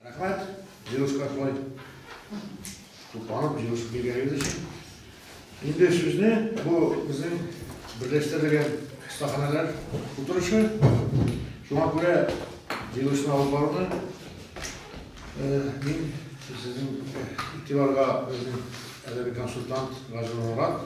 Рәхмәт, Җируска шулай тупланып, җируска килгәнегез өчен. Инде сүзне бу безнең берләштерелгән остаханәләр утырышы. Шуңа күрә җирусын алып баруны мин сезнең игътибарга безнең әдәби консультант Гази Мурат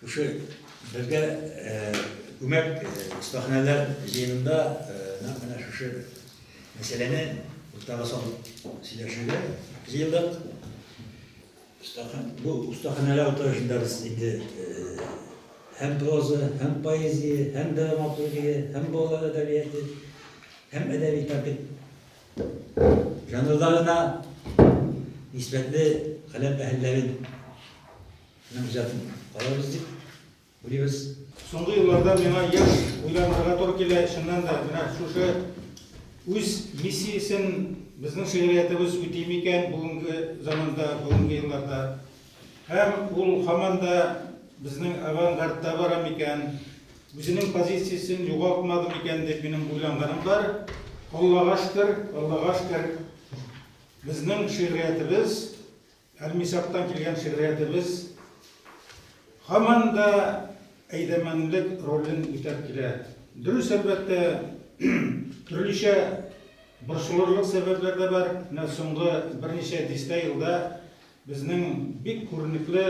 Шушы безгә күмәк остаханәләр җыенында нәкъ менә шушы мәсьәләне уртага салып сөйләшергә җыендык. Бу остаханәләр утырышында без инде һәм проза, һәм поэзия, һәм драматургия, һәм балалар әдәбияты, һәм әдәби тәртип жанрларына нисбәтле каләм әһелләрен Менә үзәтен карарбыз дип уйлыйбыз. Соңгы елларда миңа еш уйланырга туры килә, чыннан да, менә шушы үз миссиясен безнең шигъриятебез үти микән бүгенге заманда, бүгенге елларда? Һәм ул һаман да безнең авангардта бара микән, үзенең позициясен югалтмады микән дип минем уйланганым бар. Аллага шөкер, Аллага шөкер, безнең шигъриятебез Әлмисактан килгән шигъриятебез һаман да әйдәмәнлек ролен үтәп килә. Дөрес, әлбәттә, төрлечә борчылырлык сәбәпләр дә бар. Менә соңгы берничә дистә елда безнең бик күренекле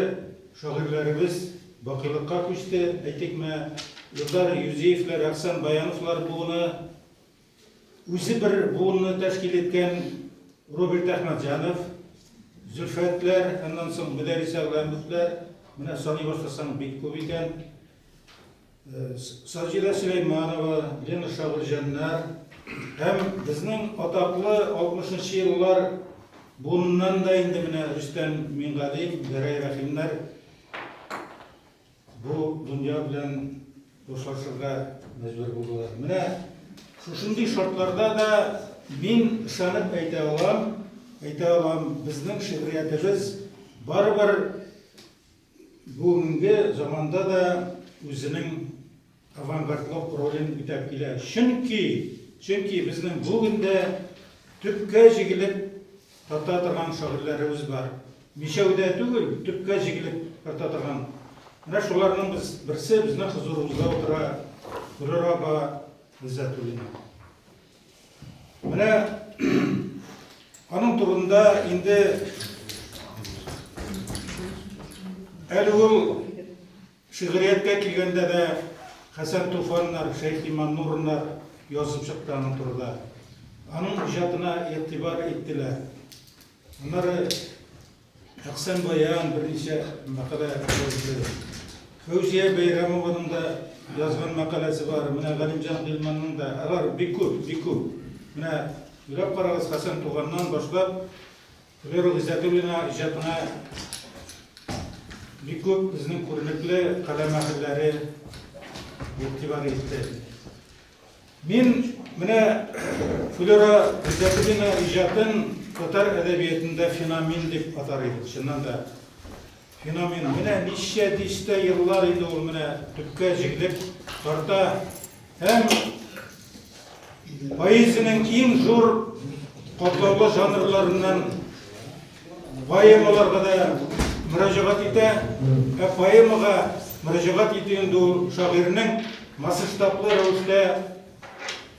шагыйрьләребез бакыйлыкка күчте. Әйтик, менә Илдар Юзеевлар, Әхсән Баяновлар буыны. Үзе бер буынны тәшкил иткән Роберт Әхмәтҗанов, Зөлфәтләр, аннан соң Мөдәрис Әгъләмовләр, менә саный башласаң бик күп икән. Саҗидә Сөләйманова, Лена Шагылҗаннар һәм безнең атаклы 60 нчы еллар буыныннан да инде менә Рөстәм Мингалим, Гәрәй Рәхимнәр Бу дөнья белән дуслашырга мәҗбүр булдылар. Менә шушындый шартларда да мин ышанып әйтә алам, әйтә алам, безнең шигъриятебез барыбер бүгенге заманда да үзенең авангардлык ролен үтәп килә. Чөнки, чөнки безнең бүген дә төпкә җигелеп тарта торган шагыйрьләребез бар. Мичәү дә түгел, төпкә җигелеп тарта торган. Менә шуларның без, берсе безнең хозурыбызда утыра, Гөлүр апа Гыйззәтуллина. Менә аның турында инде әле ул Шигърияткә килгәндә дә, Хәсән Туфаннар, Шәйхи Маннурнар язып чыкты аның турыда. Аның иҗатына игътибар иттеләр. Аннары Әхсән Баян берничә мәкалә язды. Фәүзия Бәйрәмованың да язган мәкаләсе бар, менә Галимҗан Гыйльманның да. Алар бик күп, бик күп. Менә уйлап карагыз, Хәсән Туфаннан башлап, Флера Гыйззәтуллина иҗатына бик күп безнең күренекле каләм әһелләре игътибар итте. Мин менә Флера Гыйззәтуллина иҗатын татар әдәбиятында феномен дип атар идем, чыннан да. Феномен менә ничә дистә еллар инде ул менә төпкә җигелеп тарта һәм поэзиянең иң зур катлаулы жанрларыннан поэмаларга да мөрәҗәгать итә. Ә поэмага мөрәҗәгать итү инде ул шагыйрьнең масштаблы рәвештә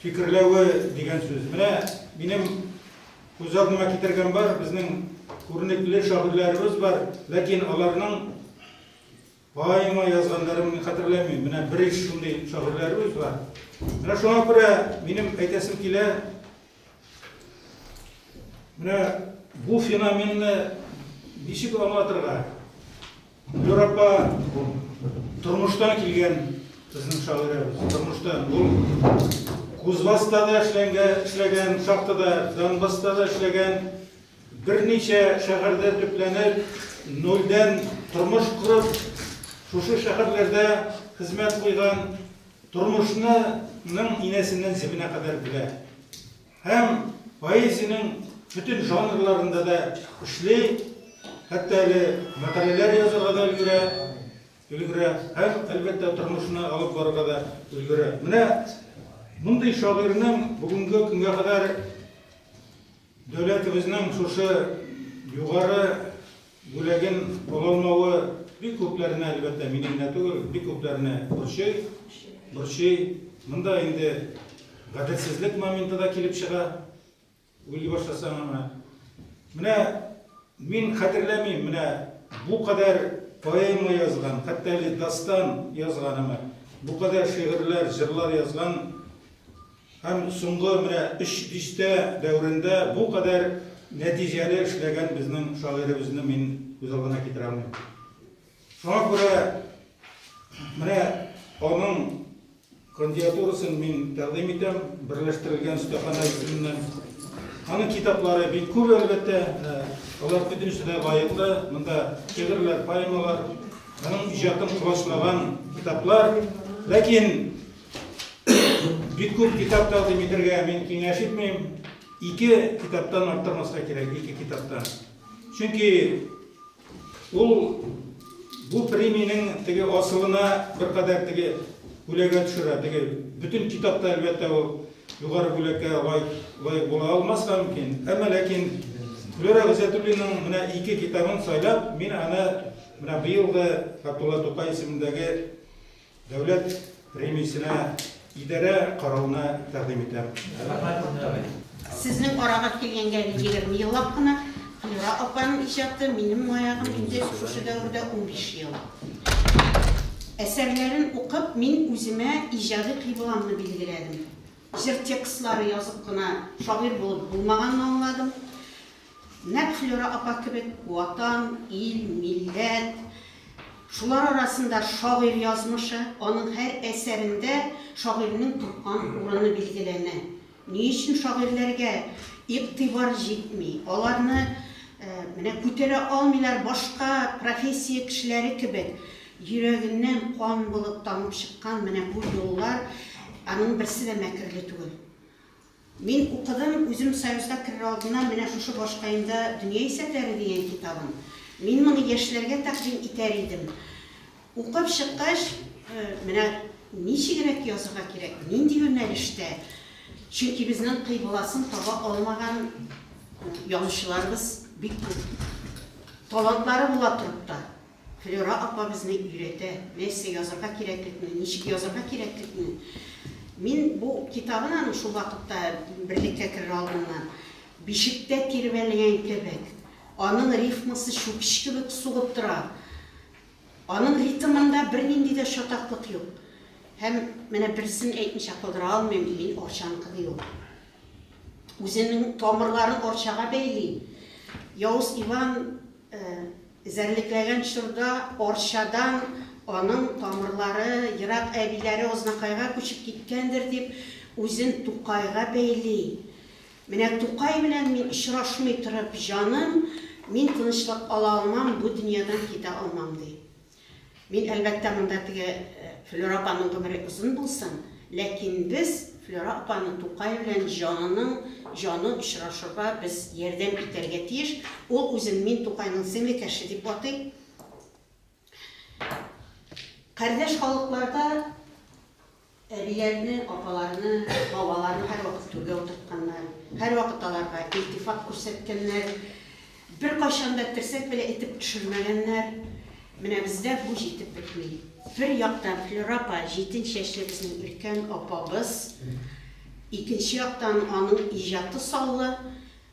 фикерләве дигән сүз. Менә минем Күз алдыма китергән бар, безнең күренекле шагыйрьләребез бар, ләкин аларның поэма язганнарын мин хәтерләмим. Менә бер иш шундый шагыйрьләребез бар. Менә шуңа күрә минем әйтәсем килә, менә бу феноменны ничек аңлатырга? Юр апа, тормыштан килгән безнең шагыйрәбез. Тормыштан ул Кузбасста да эшләгән, шахтада, Донбасста да эшләгән, берничә шәһәрдә төпләнеп, нольдән тормыш корып, шушы шәһәрләрдә хезмәт куйган, тормышның инәсеннән җебенә кадәр белә. һәм поэзиянең бөтен жанрларында да эшли, хәтта әле мәкаләләр язарга да өлгерә, өлгерә һәм, әлбәттә, тормышны алып барырга да өлгерә. Менә мондый шагыйрьнең бүгенге көнгә кадәр дәүләтебезнең шушы югары Бүләген кулланмавы бик күпләрне, әлбәттә, мине генә түгел, бик күпләрне борчый, борчый. Монда инде гаделсезлек моменты да килеп чыга. Уйлый башласаң аңа. Менә мин хәтерләмим, менә бу кадәр поэма язган, хәтта әле дастан язганыма, бу кадәр шигырьләр, җырлар язган Һәм соңгы менә өч дистә дәверендә бу кадәр нәтиҗәле эшләгән безнең шагыйребезне мин күз алдына китерә алмыйм. Шуңа күрә менә аның кандиатурасын мин тәкъдим итәм, Берләштерелгән остаханә исеменнән. Аның китаплары бик күп, әлбәттә, алар бөтенесе дә лаеклы. Монда шигырьләр, поэмалар, аның иҗатын колачлаган китаплар. Ләкин Бик күп китап тәкъдим итергә мин киңәш итмим. Ике китаптан арттырмаска кирәк, ике китаптан. Чөнки ул бу премиянең теге асылына беркадәр теге бүләгә төшерә. Теге бөтен китапта әлбәттә ул югары бүләккә лаек була алмас та мөмкин. Әмма ләкин Флюра Гызәтуллинның менә ике китабын сайлап, мин аны менә быелгы Габдулла Тукай исемендәге Дәүләт премиясенә идарә карауны тәкъдим итәм. Сезнең арага килгәнгә егерме еллап кына Флюра апаның иҗаты минем маягым инде шушы дәвердә унбиш ел. Әсәрләрен укып, мин үземә иҗади кыйбламны билгеләдем. Җыр текстлары язып кына шагыйрь булып булмаганны аңладым. Нәкъ Флера апа кебек Ватан, ил, милләт, шулар арасында шагыйрь язмышы, аның һәр әсәрендә шагыйрьнең тоткан урыны билгеләнә. Ни өчен шагыйрьләргә игътибар җитми, аларны менә күтәрә алмыйлар, башка профессия кешеләре кебек йөрәгеннән кан булып тамып чыккан менә бу юллар, аның берсе дә мәкерле түгел. Мин укыдым, үзем Союзга керер алдыннан менә шушы башкаемда Дөнья исәпләре дигән китабым. Мин моны яшьләргә тәкъдим итәр идем. Укып чыккач, менә ничегрәк язырга кирәк, нинди юнәлештә, чөнки безнең кыйбласын таба алмаган язучыларыбыз бик күп. Талантлары була торып та. Флюра апа безне өйрәтә, нәрсә язырга кирәклекне, ничек язырга кирәклекне. Мин бу китабын аның шул вакытта, берлеккә керер алдыннан, бишектә тирбәлгән кебек, аның рифмасы чүкеч кебек сугып тора, аның ритмында бернинди дә чатаклык юк. Һәм менә берсен әйтмичә калдыра алмыйм, мин Арчанкы, ди ул. Үзенең тамырларын Арчага бәйли. Явыз Иван Эзәрлекләгән чорда Арчадан аның тамырлары ерак әбиләре Азнакайга күчеп киткәндер дип, үзен Тукайга бәйли. Менә Тукай белән мин очрашмый торып, җаным, мин тынычлык ала алмам, бу дөньядан китә алмам, ди. Мин, әлбәттә, монда теге Флера апаның гомере озын булсын, ләкин без Флера апаның Тукай белән җанының җаны очрашырга без ярдәм итәргә тиеш. Ул үзен Мин Тукайның сеңле кәше дип атый. Кардәш халыкларда Әбиләрне, апаларны, бабаларны һәрвакыт түргә утыртканнар, һәрвакыт аларга илтифат күрсәткәннәр, беркайчан да терсәк белән этеп төшермәгәннәр. Менә бездә бу җитеп бетми. Бер яктан Флюра апа, җитен чәчле безнең өлкән апабыз, икенче яктан аның иҗаты саллы.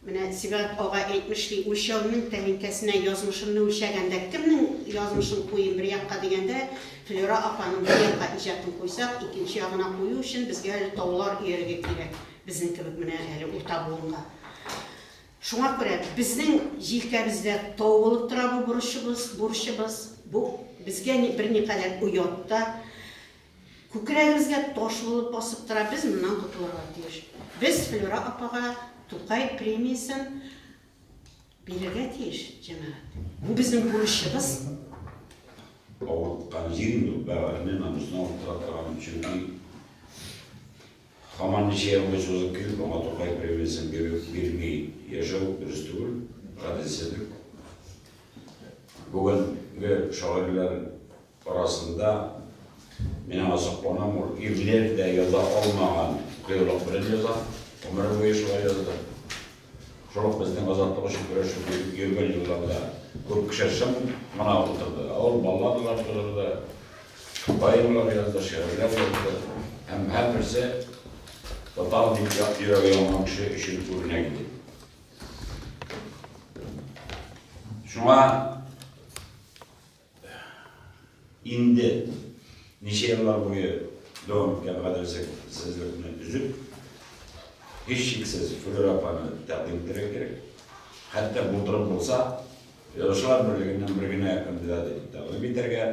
Менә Сибгат ага әйтмеш ки, үлчәүнең тәлинкәсенә язмышымны үлчәгәндә, кемнең язмышын куйыйм бер якка дигәндә, Флера апаның бер якка иҗатын куйсак, икенче ягына кую өчен безгә әле таулар өяргә кирәк, безнең кебек менә әле урта буынга. Шуңа күрә безнең җилкәбездә тау булып тора бу бурычыбыз, бу безгә берникадәр оят та. Күкрәгебезгә таш булып басып тора, без моннан котылырга тиеш. Без Флюра апага Тукай премиясен бирергә тиеш, җәмәгать. Бу безнең бурычыбыз. Авырткан җирем юк, бәгырьне намусын авырттыра торган, чөнки һаман ничә елга чузып килеп, аңа Тукай премиясен бирү, бирми яшәү дөрес түгел, гаделсезлек. Бүгенге шагыйрьләр. арасында, мин азыкланам, ул ирләр дә яза алмаган кыюлык белән яза, гомере буе шулай язды. Шул ук безнең азатлык өчен көрәшеп йөргән елларда күп кеше шым гына утырды, ә ул балладалар тудырды, поэмалар язды, шигырьләр язды һәм һәрберсе татар дип як йөрәге янган кеше өчен үрнәк иде. Шуңа Инде ничә еллар буе дәвам иткән гаделсезлекне өзеп, һичшиксез Флюр апаны тәкъдим итәргә кирәк. Хәтта булдырып булса, Язучылар берлегеннән бер генә кандидат итеп тәкъдим итәргә,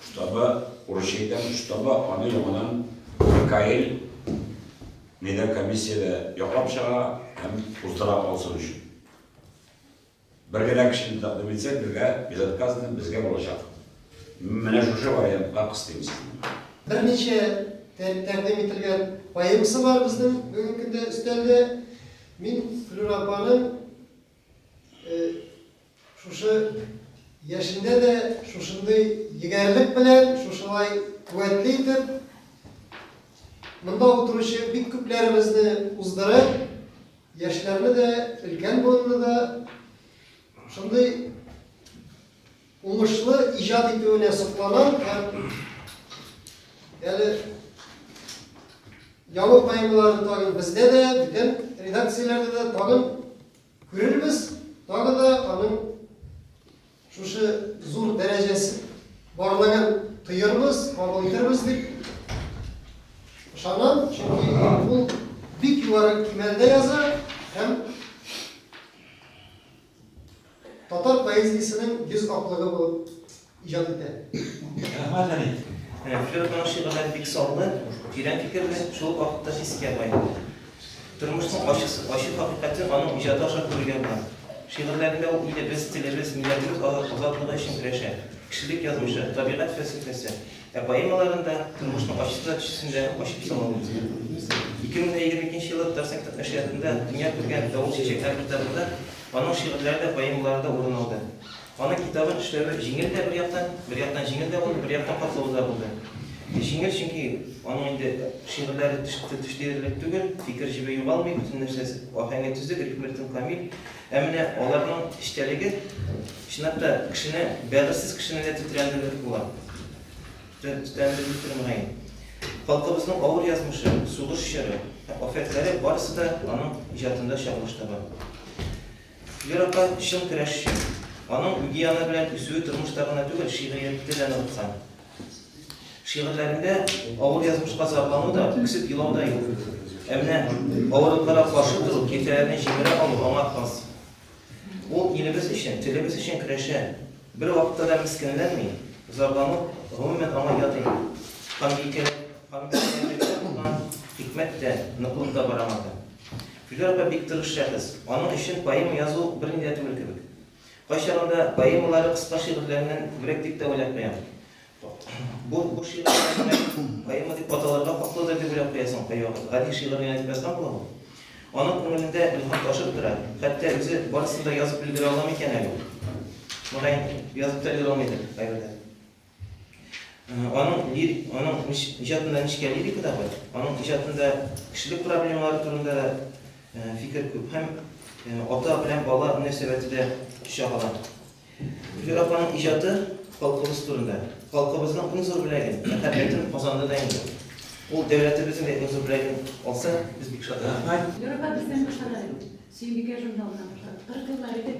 штабы, урысча әйтәм, штабы аны яңадан Микаэль медиакомиссиядә яклап чыга һәм уздыра алсын өчен. Бер генә кешене тәкъдим итсәң, безгә безотказно безгә булачак. Менә шушы вариантка кыстыйм сезне. Берничә тәкъдим ителгән поэмасы бар безнең бүгенге көндә өстәлдә. Мин Флюра апаның шушы яшендә дә шушындый егәрлек белән, шушылай куәтле итеп, монда утыручы бик күпләребезне уздырып, Яшьләрне дә, өлкән буынны да шундый уңышлы иҗат итүенә сокланам һәм әле яңа поэмаларын тагын бездә дә, бүтән редакцияләрдә дә тагын күрербез, тагы да аның Шушы зур дәрәҗәсе барлыгын тоербыз, кабул итербез дип ышанам, чөнки ул бик югары кимәлдә яза һәм татар поэзиясенең йөз аклыгы булып иҗат итә. Рәхмәт, Әни. Флёрданың шигырьләре бик саллы, тирән фикерле, шул ук вакытта хискияр бай. Тормышның ачысы, ачы хакыйкате аның иҗаты аша күрергә була. Шигырьләрендә ул илебез, телебез, милләтебез азатлыгы өчен көрәшә. Кешелек язмышы, табигать фәлсәфәсе. Ә поэмаларында тормышның ачысы да, төчесе дә ачып сала ул безгә. 2022 нче елда Татарстан нәшриятында дөнья күргән Давыл чәчәкләре китабында аның шигырьләре дә, поэмалары да урын алды. Аның китабын эшләве җиңел дә бер яктан, бер яктан җиңел дә булды, бер яктан катлаулы да булды. Җиңел, чөнки аның инде шигырьләре төш диярлек түгел, фикер җебе югалмый, бөтен нәрсәсе, аһәңе төзек, рифмы-ритмы камил. Ә менә аларның эчтәлеге, чынлап та, кешене, бәгырьсез кешене дә тетрәндерерлек була. Тетрәндерелдер мөгаен. Халкыбызның авыр язмышы, сугыш чоры, афәтләре барысы да аның иҗатында чагылыш таба. Вера апа, чын көрәшче. Аның үги яны белән үсүе тормышта гына түгел, шигъриятьтә дә ныгыткан. Шигырьләрендә авыр язмышка зарлану да, үксеп елау да юк. Ә менә авырлыкларга каршы тору, киртәләрне җимерә алу аңа хас. Ул илебез өчен, телебез өчен көрәшә. Бер вакытта да мескенләнми, зарлану, гомумән, аңа ят инде. Ханбикәләрдә булган хикмәт тә, ныклык та бар аңарда. Филү апа бик тырыш шәхес. Аның өчен поэма язу берни дә түгел кебек. Кайчагында поэмалары кыска шигырьләреннән күбрәк дип тә уйлап куям. Бу бу шигырьләр генә поэма дип аталырга хаклыдыр дип уйлап куясың кайвакыт. Гади шигырь генә дип язган була ул. Аның күңелендә илһам ташып тора. Хәтта үзе барысын да язып өлгерә аламы икән әле ул? Мөгаен, язып та өлгерә алмыйдыр кайберләре. Аның лирик, аның иҗатында нечкә лирика да бар. Аның иҗатында кешелек проблемалары турында да фикер күп һәм ата белән бала мөнәсәбәте дә чагыла. Гөлфир апаның иҗаты халкыбыз турында. Халкыбызның иң зур бүләген, мәхәббәтен казанды да инде. Ул дәүләтебезнең дә иң зур бүләген алса, без бик шат. Рәхмәт. Гөлфир апа, без дә бик шат әле. Сөембикә журналыннан башлап, 40 еллар элек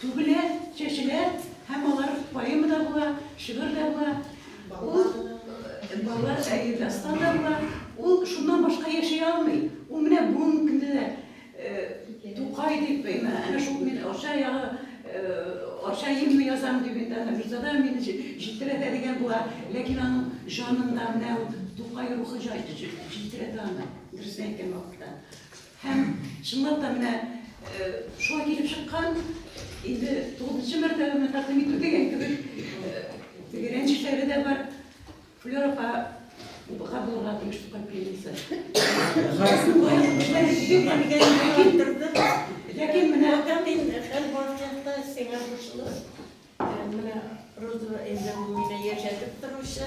Түгелә, чәчелә һәм алар поэма да була, шигырь дә була. Ул балалар әйе дастан да була. Ул шуннан башка яши алмый. Ул менә бүгенге көндә дә Тукай дип, әнә шул мин Арча ягы, Арча гимны язам дип инде аны Мирзада мине җилтерәтә дигән була. Ләкин аның җанында менә ул Тукай рухы җилтерәтә аны, дөресен әйткән вакытта. Һәм, чынлап та, менә шулай килеп чыккан, инде тугызынчы мәртәбәме тәкъдим итү дигән кебек, теге рәнҗешләре дә бар. Флера апага булырга тиеш Тукай пленница. Ләкин менә мин хәл бар чакта сиңа борчылып, менә Розова әйдәгүенә яшәтеп торучы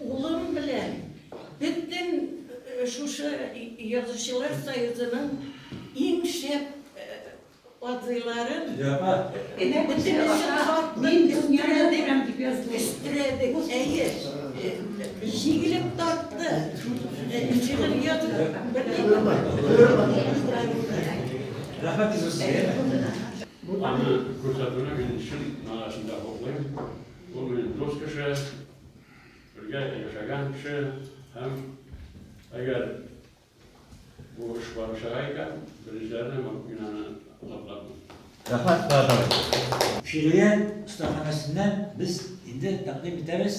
Улым белән бөтен шушы Язучылар союзының иң шәп абзыйларын бөтенесе тартып өстерәдек. Әйе, җигелеп тартты. Шигырь язып бетердек. Аны күрсәтүне мин чын манасында хуплыйм. Ул минем дус кеше, бергә яшәгән кеше һәм әгәр бу эш барып чыга икән, беренчеләрдән булып мин аны котлармын. Рәхмәт, Булат абый. Фирия остаханәсеннән без инде тәкъдим итәбез.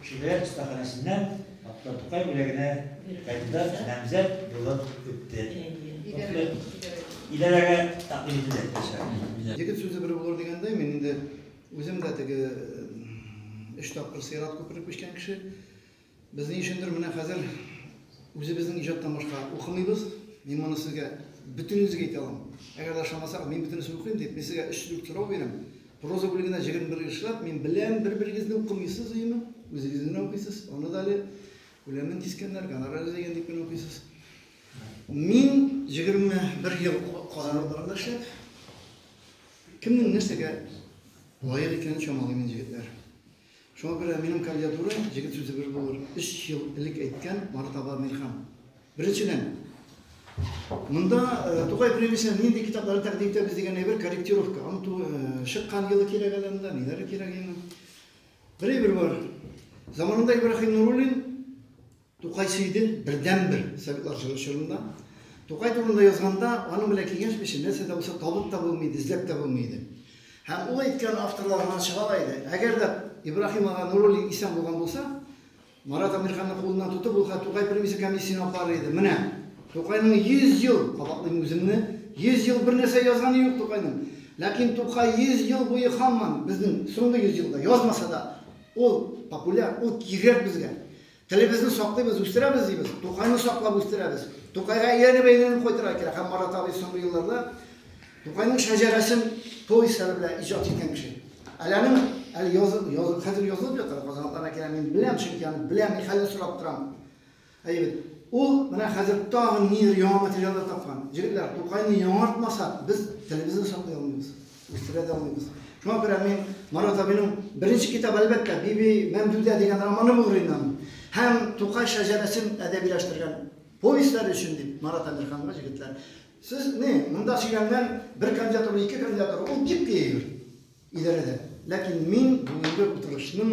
Шигърият остаханәсеннән Актан Тукай бүләгенә кандидат намзәт булып үтте. Идарәгә тәкъдим ителде. Егет сүзе бер булыр дигәндәй, мин инде үзем дә теге өч тапкыр сыйрат күперен күчкән кеше. Без ни өчендер менә хәзер үзебезнең иҗаттан башка укымыйбыз. Мин моны сезгә бөтенегезгә әйтә алам. Әгәр дә ышанмасагыз, мин бөтенесен укыйм дип, мин сезгә өч-дүрт сорау бирәм. Проза бүлегенә җыгын бер эшләп, мин беләм, бер-берегезне укымыйсыз, өеме? Үзегез генә укыйсыз. Аны да әле күләмен кискәннәр, гонорар җәйгән дип кенә укыйсыз. Мин җегерме бер ел Казан утларында эшләп, кемнең нәрсәгә лаек икәнен чамалыйм мин, җегетләр. Шуңа күрә минем кандидатура, җегет сүзе бер булыр, өч ел элек әйткән Марат Аба Мирхан. Беренчедән, монда Тукай премиясенә нинди китаплар тәкъдим итәбез дигән әйбер корректировка. Аның чыккан елы кирәк әле анда, ниләре кирәк инде. Бер әйбер бар. Заманында Ибраһим Нуруллин Тукай сөйде, бердәнбер Советлар җыры чорында. Тукай турында язганда, аның белән киңәшми өчен нәрсә дә булса табып та булмый иде, эзләп тә булмый иде. Һәм ул әйткән авторлар гына чыга ала иде. Әгәр дә Ибраһим ага Нуруллин исән булган булса, Марат Әмирханны кулыннан тотып, ул хәт Тукай премиясе комиссиясенә апарыр иде. Менә, Тукайның 100 ел, кабатлыйм үземне, 100 ел бернәрсә язганы юк Тукайның. Ләкин Тукай 100 ел буе һаман, безнең соңгы 100 елда язмаса да, ул популяр, ул кирәк безгә. Телебезне саклыйбыз, үстерәбез, дибез. Тукайны саклап үстерәбез. Тукайга әйләнеп-әйләнеп кайтырга кирәк. Һәм Марат абый соңгы елларда Тукайның шәҗәрәсен повестьлары белән иҗат иткән кеше. Әле аның әле язып, язып, хәзер язылып ята, Казанлыларга кирәк, мин беләм, чөнки аны беләм, мин хәлен сорап торам. Әйе, ул менә хәзер тагын ниндидер яңа материаллар тапкан. Җегетләр, Тукайны яңартмасак, без телебезне саклый алмыйбыз. үстерә дә алмыйбыз. Шуңа күрә мин Марат абыйның беренче китабы, әлбәттә, Биби Мәмдүдә дигән романы булыр иде аның. Һәм Тукай шәҗәрәсен әдәбиләштергән повестьләре өчен дип Марат Әмирханга җегетләр, сез ни, монда сөйләнгән бер кандидатура, ике кандидатура, ул бик тиеш идарәдә. Ләкин мин бүгенге утырышның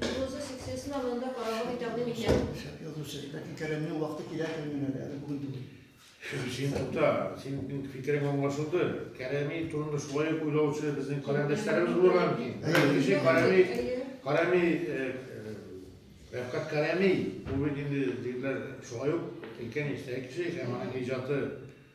Язучы секциясен дә монда карарга бик тәкъдим итәм. Шәп язучы, ләкин Кәремнең вакыты килә көненә дә, әле бүген түгел. Син тукта, синең фикерең аңлашылды. Кәрәми турында шулай ук уйлаучы безнең каләмдәшләребез булырга мөмкин. Әйе. Кеше Кәрәми, Кәрәми, Рәфкать Кәрәми, ул бит инде, егетләр, шулай ук өлкән яшьтәге кеше һәм аның иҗаты,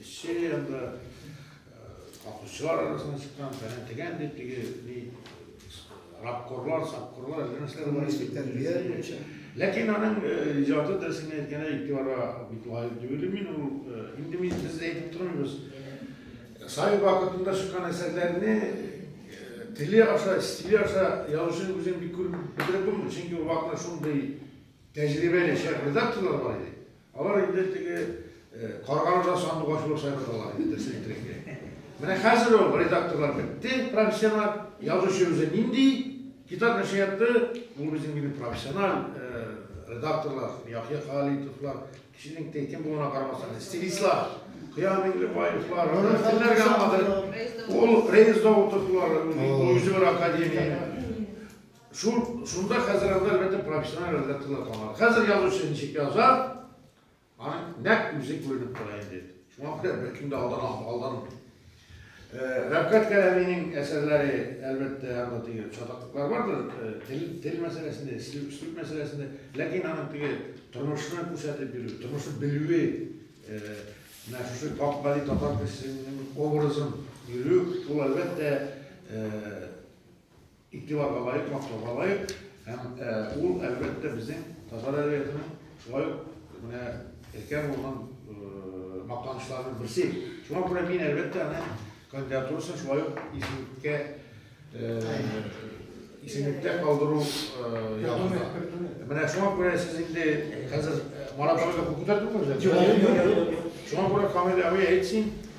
Эшче анда капучылар арасына чыккан, фәлән тегән дип теге ни рабкорлар, сапкорлар, нәрсәләр бар икән. Тәрбия буенча. Ләкин аның иҗаты дөресен әйткәндә игътибарга бик лаек дип уйлыйм мин. Ул инде мин без әйтеп тормыйбыз. Сай вакытында чыккан әсәрләрне теле аша, стиле аша язучының үзен бик күреп бетереп булмый. Чөнки ул вакытта шундый тәҗрибәле шәп редакторлар бар иде. Алар инде теге каргаларда сандугач булып сайралалар инде, дөресен әйтергә. Менә хәзер ул редакторлар бетте, профессиональ язучы үзе нинди китап нәшриятты, ул безнең инде профессиональ редакторлар, Яхья Халитовлар, кешенең текем булуына карамастан, стилистлар, Кыяр Миңлебаевлар, кемнәргә алмадыр, ул Рейс Даутовлар, ул үзе бер академия. Шул, шунда хәзер анда әлбәттә профессиональ редакторлар калмады. Хәзер язучы ничек яза, аның нәкъ үзе күренеп тора инде. Шуңа күрә беркем дә алдан алданмый. Рәфкать Кәләминең әсәрләре, әлбәттә, анда теге чатаклыклар бардыр, тел, тел мәсьәләсендә, үслүп, үслүп мәсьәләсендә, ләкин аның теге тормышны күрсәтеп бирү, тормышны белүе, менә шушы Бакбали татар кешесенең образын бирү, ул әлбәттә, игътибарга лаек, мактауга лаек һәм ул, әлбәттә, безнең татар әдәбиятының шулай ук менә өлкән булган мактанышларының берсе. Шуңа күрә мин, әлбәттә, аның кандидатурасын шулай ук исемлеккә исемлектә калдыру ягында. Менә шуңа күрә сез инде хәзер марафонда күп күтәрдеңме? Шуңа күрә Камил абый әйтсен,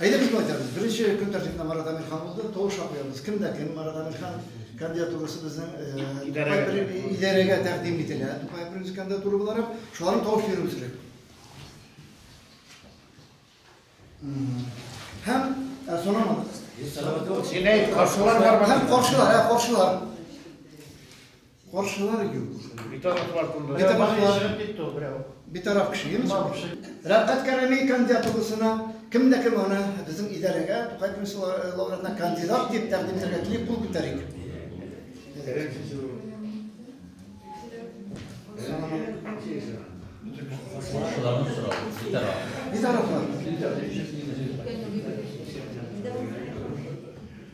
Әйдә шулай итәбез. Беренче көн тәртибендә Марат Әмирхан булды. Тавыш ша куябыз. Кем дә кем Марат Әмирхан кандидатурасы безнең э, идарәгә тәкъдим ителә. Тукай Принц кандидатура буларак шуларны тавыш бирү кирәк. Һәм э, сорамады. Син әйт, каршылар бар. Һәм каршылар, ә каршылар. Каршылар юк. Битараф вакытында. Битараф чыгып китте ул берәү. Битараф кеше, юкмы? Рәфкать Кәрәми кандидатурасына кем дә кем аны безнең идарәгә Тукай премиясе лауреатына кандидат дип тәкъдим итәргә тели кул күтәрик. Шуларны сорау. Битараф. Битарафлар.